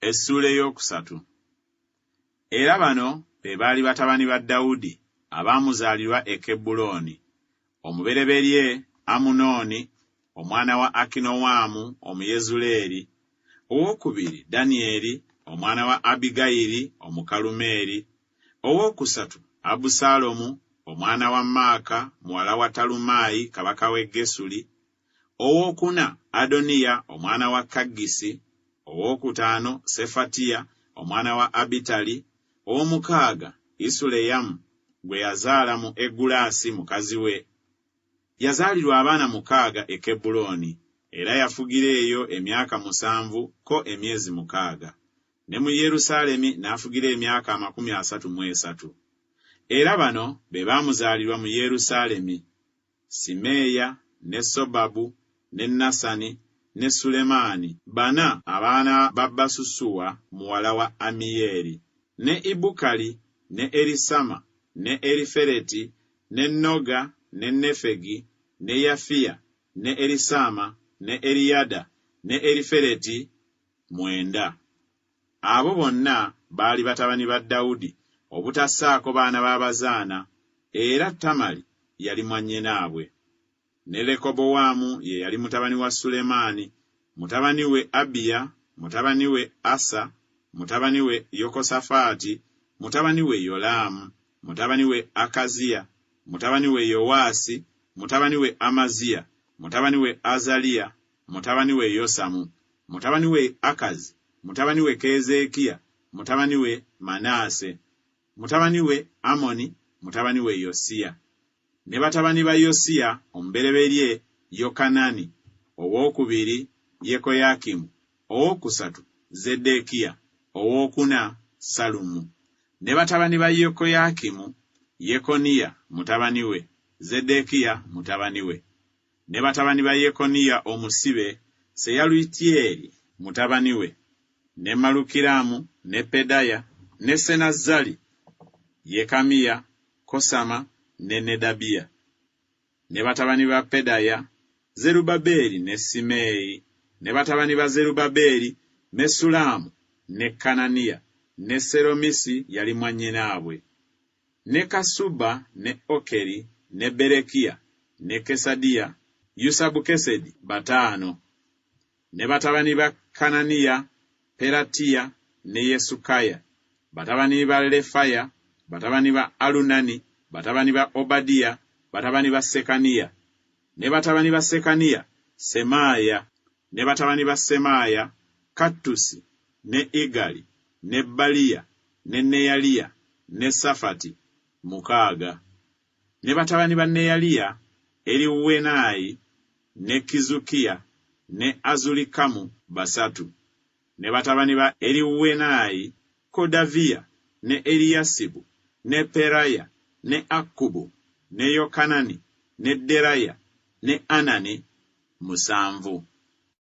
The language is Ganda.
Essuula ey'okusatu. Era bano be baali batabani ba Dawudi abaamuzaalirwa e Kebbulooni, Omubereberye Amunooni omwana wa Akinowaamu Omuyezuleeri, owookubiri Danyeri omwana wa Abigayili Omukalumeeri, owookusatu Abusaalomu omwana wa Maaka muwala wa Talumaayi kabaka w'e Gesuli, Ow'okuna, Adoniya omwana wa Kaggisi, ow'okutaano, Sefatiya omwana wa Abitali, ow'omukaaga, Isuleyamu, gwe yazaala mu Egulaasi mukazi we. Yazaalirwa abaana mukaaga e Kebbulooni, era yafugira eyo emyaka musanvu ko emyezi mukaaga, ne mu Yerusaalemi n'afugira emyaka amakumi asatu mu esatu. Era bano be baamuzaalirwa mu Yerusaalemi. Simeeya, ne Sobabu, ne Nasani, ne Sulemaani, bana abaana ba Basusuwa muwala wa Ammiyeeli, ne Ibukali, ne Elisama, ne Elifeleti, ne Noga, ne Nefegi, ne Yafiya, ne Elisaama, ne Eliyada, ne Elifeleti, mwenda. Abo bonna baali batabani ba Dawudi, obutassaako baana b'abazaana, era Tamari yali mwannyinaabwe. Ne Lekobowaamu ye yali mutabani wa Sulemaani, mutabani we Abiya, mutabani we Asa, mutabani we Yokosafaati, mutabani we Yolaamu, mutabani we Akaziya, mutabani we Yowaasi, mutabani we Amaziya, mutabani we Azaliya, mutabani we Yosamu, mutabani we Akazi, mutabani we Keezeekiya, mutabani we Manaase, mutabani we Amoni, mutabani we Yosiya. Ne batabani ba Yosiya, omubereberye Yokanani, owookubiri Yekoyakimu, owookusatu Zeddeekiya, owookuna Sallumu. Ne batabani ba Yekoyakimu, Yekoniya mutabani we, Zeddeekiya mutabani we. ne batabani ba Yekoniya omusibe, Seyalutyeri mutabani we, ne Malukiramu, ne Pedaya, ne Senazzali, Yekamiya, Kosama, ne Nedabiya. Ne batabani ba Pedaya, Zerubabeeli ne Simeeyi, ne batabani ba Zerubabeeli, Mesullamu, ne Kananiya, ne Seromisi yali mwannyinaabwe. ne Kassuba, ne Okeri, ne Berekiya, ne Kesadiya, Yusabukesedi, bataano. Ne batabani ba Kananiya, Pelatiya, ne Yesukaya, batabani ba Lefaya, batabani ba Alunani, batabani ba Obadiya, batabani ba Sekaniya. Ne batabani ba Sekaniya, Semaaya. Ne batabani ba Semaaya, Kattusi, ne Igali, ne Baliya, ne Neyaliya ne Safati, mukaaga. Ne batabani ba Neyaliya, Eriwenayi ne Kizukiya ne Azurikamu, basatu. Ne batabani ba Eriwenayi, Kodaviya ne Eliyasibu ne Peraya ne Akkubu ne Yokanani ne Deraya ne Anani, musanvu.